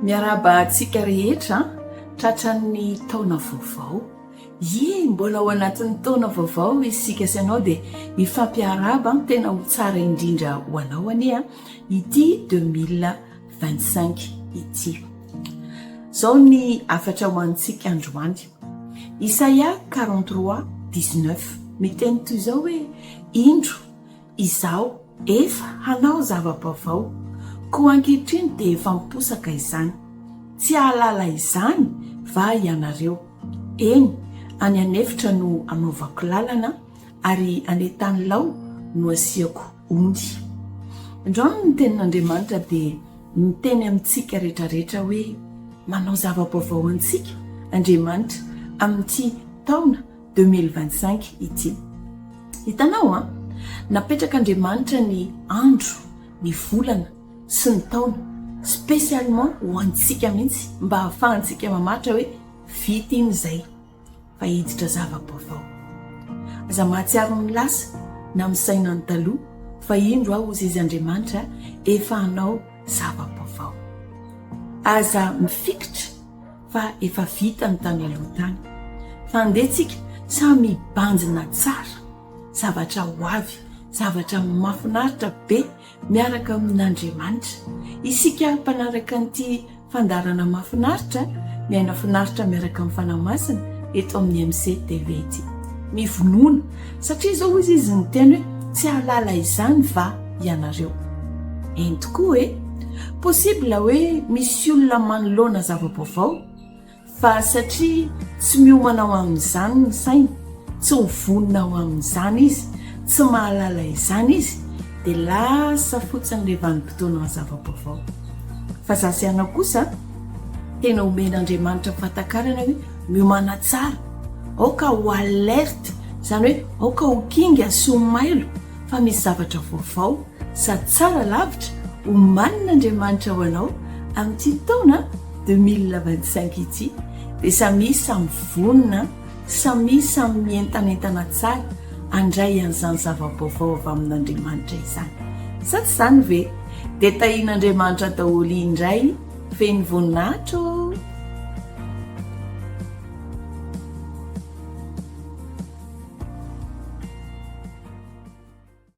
Miarahaba antsika rehetra tratran'ny taona vaovao. Ye, mbola ao anatin'ny taona vaovao isika sy anao dia mifampiarahaba tena ho tsara indrindra ho anao anie ity 2025 ity. Zao ny afatra ho antsika androany. Isaia 43 19 miteny toy izao hoe indro Izaho efa hanao zava-baovao, koa ankehitriny dia efa miposaka izany. Tsy hahalala izany va ianareo? Eny, any an'efitra no hanaovako lalana, ary any an-tanilao no hasiako ony. Androany ny Tenin'Andriamanitra dia miteny amintsika rehetrarehetra hoe, Manao zava-baovao antsika, Andriamanitra, amin'ity taona Deux mille vingt cinq ity. Hitanao an! Napetraka Andriamanitra ny andro, ny volana sy ny taona spécialement ho antsika mihitsy mba hahafahantsika mamaritra hoe vita iny izay fa hiditra zava-baovao. Aza mahatsiaro ny lasa na ny saina ny taloha fa indro aho hozy izy Andriamanitra efa hanao zava-baovao. Aza mifikitra. fa efa vita ny tany aloha tany fa andeha tsika samy hibanjina tsara zavatra ho avy zavatra mafinaritra be miaraka amin'Andriamanitra isika mpanaraka an'ity fandarana mafinaritra miaina finaritra miaraka amin'ny fanahy masina eto amin'ny MC TV ity ny vonoana Satria izao hoy izy niteny hoe, tsy hahalala izany va ianareo? Eny tokoa e! Possible hoe misy olona manoloana zava-baovao fa satria tsy miomana ho amin'izany ny sainy, tsy ho vonona ho amin'izany izy, tsy mahalala izany izy dia lasa fotsiny ilay vanim-potoanan'ny zava-baovao. Fa za sy ianao kosa tena omen'Andriamanitra fahatakarana hoe, Miomàna tsara, aoka ho alerte, izany hoe aoka ho kinga sy ho mailo fa misy zavatra vaovao sady tsara lavitra omanin'Andriamanitra ho anao amin'ity taona deux mille vingt cinq ity dia samia samy vonona, samia samy mientanentana tsara handray an'izany zava-baovao avy amin'Andriamanitra izany. Sa tsy izany ve? Dia tahian'Andriamanitra daholo indray. Ven'ny voninahitra ô!